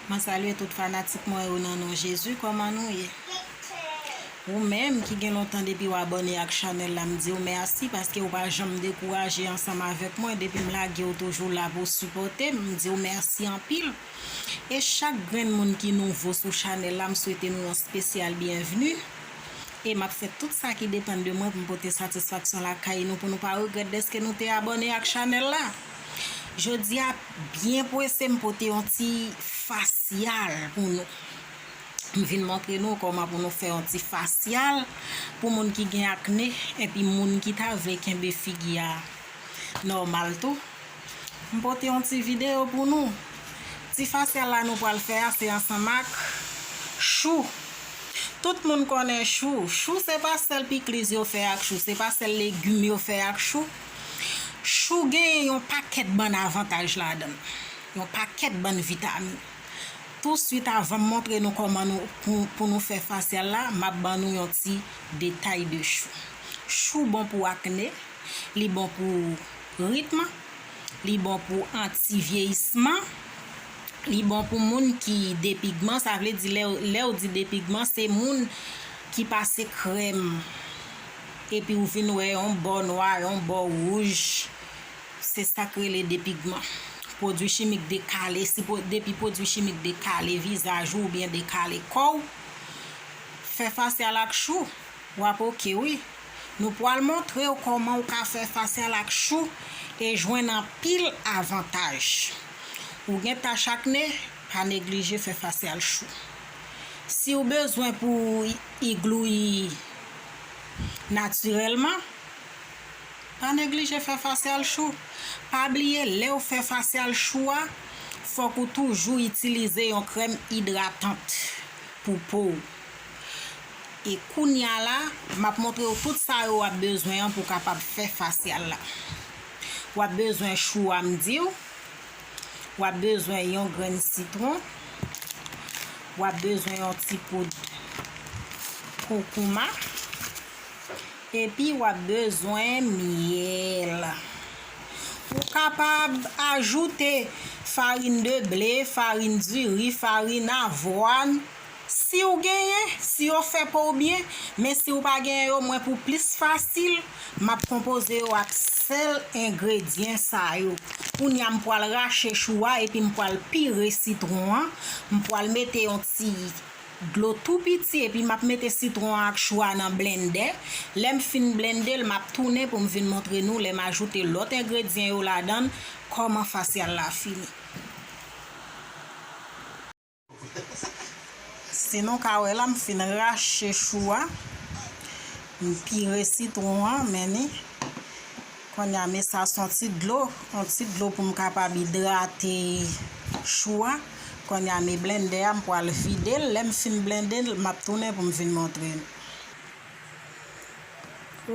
Mwen salye tout fanatik mwen yo nan non Jezi kòman nou ye ou menm ki gen lontan depiw abòne ak chanèl la m diw mèsi paske ou pa janm dekouraje ansanm avèk mwen depim lage ou toujou la pou sipòtem m diw mèsi anpil e chak grenn moun ki nouvo sou chanèl la m swete nou yon spesyal byenvni e map fè tout sa ki depann de mwen poum pote satisfaksyon lakay nou pou nou pa regrèt dèske nou te abòne ak chanèl la. Jodi a byen pwese m pote yon ti fasyal pou nou. M vin montre nou kòman pou nou fè yon ti fasyal pou moun ki gen akne epi moun ki ta vle kenbe figi a nòmal tou. M pote yon ti videyo pou nou. Ti fasyal la nou pral fè a se ansanm ak chou. Tout moun konnen chou. Chou se pa sèl pikliz yo fè ak chou, se pa sèl legim yo fè ak chou. Chou genyen yon pakèt bann avantaj ladann, yon pakèt bann vitamin. Touswit avan m montre nou kòman nou pou nou fè fasyèl la, m ap ban nou yon ti detay de chou. Chou bon pou akne, li bon pou ritm, li bon pou anti vyeyisman, li bon pou moun ki depigman, sa vle di lè ou di depigman se moun ki pase krèm. Epi ou vin wè yon bò nwa, yon bò wouj. Se sa k rele depigman. Pwodui chimik dekale, si depi pwodui chimik dekale vizaj ou oubyen dekale kò w, fè fasyal ak chou, w ap ok wi. Nou pwal montre w kòman ou ka fè fasyal ak chou e jwenn anpil avantaj. Ou gen tach akne, pa neglije fè fasyal chou. Si w bezwen pou w iglouyi. Natirèlman, pa neglije fè fasyal chou. Pa bliye lèw fè fasyal chou a, fòk ou toujou itilize yon krèm idratant pou po ou. E kounya la, map montrew tout sa yo wap bezwen an pou kapab fè fasyal la. Wap bezwen chou a m diw. W ap bezwen yon grenn sitwon. W ap bezwen yon ti poud koukouma. Epi w ap bezwen myèl. Ou kapab ajoute farin de ble, farin diri, farin avwàn. Si w genyen, si yo fè pou w byen, men si w pa genyen yo mwen pou plis fasil, m ap konpoze yo ak sèl engredyen sa yo. Kounye a m pwal rache chou a epi m pwal pire sitwon an, m pwal mete yon ti dlo tou piti epi m ap mete sitwon an ak chou a nan blennde, lè m fin blennde l m ap tounen pou m vin montre nou lè m ajoute lòt engredyen yo ladan l kòman fasyal la fini. Si nou ka wè la m fin rache chou a, m pire sitwon an men ni. Konnya me sa son ti dlo, on ti dlo pou m kapab idrate chou a. Konnya me blendè a m pwal vide l, lè m fin blende l map tounen pou m vin montre nou.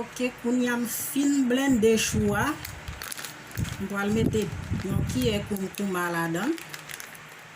Ok kounya m fin blende chou a, m pwal mete yon kiyè kounkouma ladan l.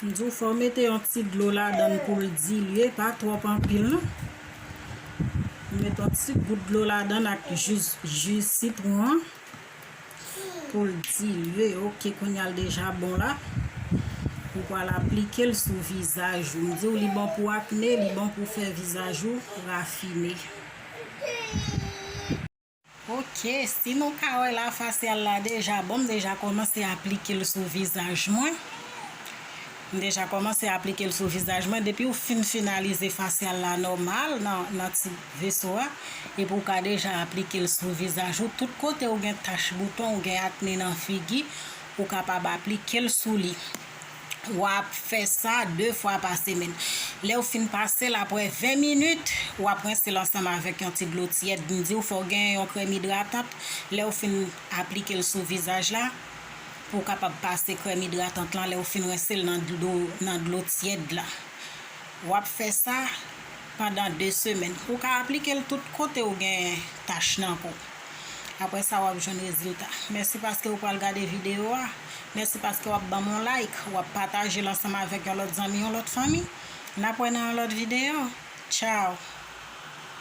M di w fò w mete yon ti dlo ladan l pou l dilye, pa twòp anpil non. M met yon ti gout dlo ladan l ak jus ji sitwon an pou l dilye. Ok kounya l deja bon la. Ou pral aplike l sou vizaj ou. M di w li bon pou akne, li bon pou fè vizaj ou rafine. Ok si nou ka wè la fasyal la deja bon m deja kòmanse aplike l sou vizaj mwen m deja kòmanse aplike l sou vizaj mwen depi w fin finalize fasyal la nòmal nan ti veso a epi w ka deja aplike l sou vizaj ou tout kote ou gen tach bouton ou gen akne nan figi ou kapab aplike l sou li. wap fè sa 2 fwa pa semèn. Lèw fin pasel aprè 20 minit wap rinsel ansanm avèk yon ti dlo tyèd, m diw fòw genyen yon krèm idratant lèw fin aplikel sou vizaj la pouw kapab pase krèm idratant lan lèw fin rinsel nan dlo tyèd la wap fè sa pandan 2 semèn ou ka aplikel tout kotew gen tach nan po. Aprè sa wap jwenn rezilta. Mèsi paske ou pral gade video a. Mèsi paske wap banm yon like, wap patajel ansanm avèk yon lòt zanmi, yon lòt fanmi. Nap wè nan yon lòt video. Ciao!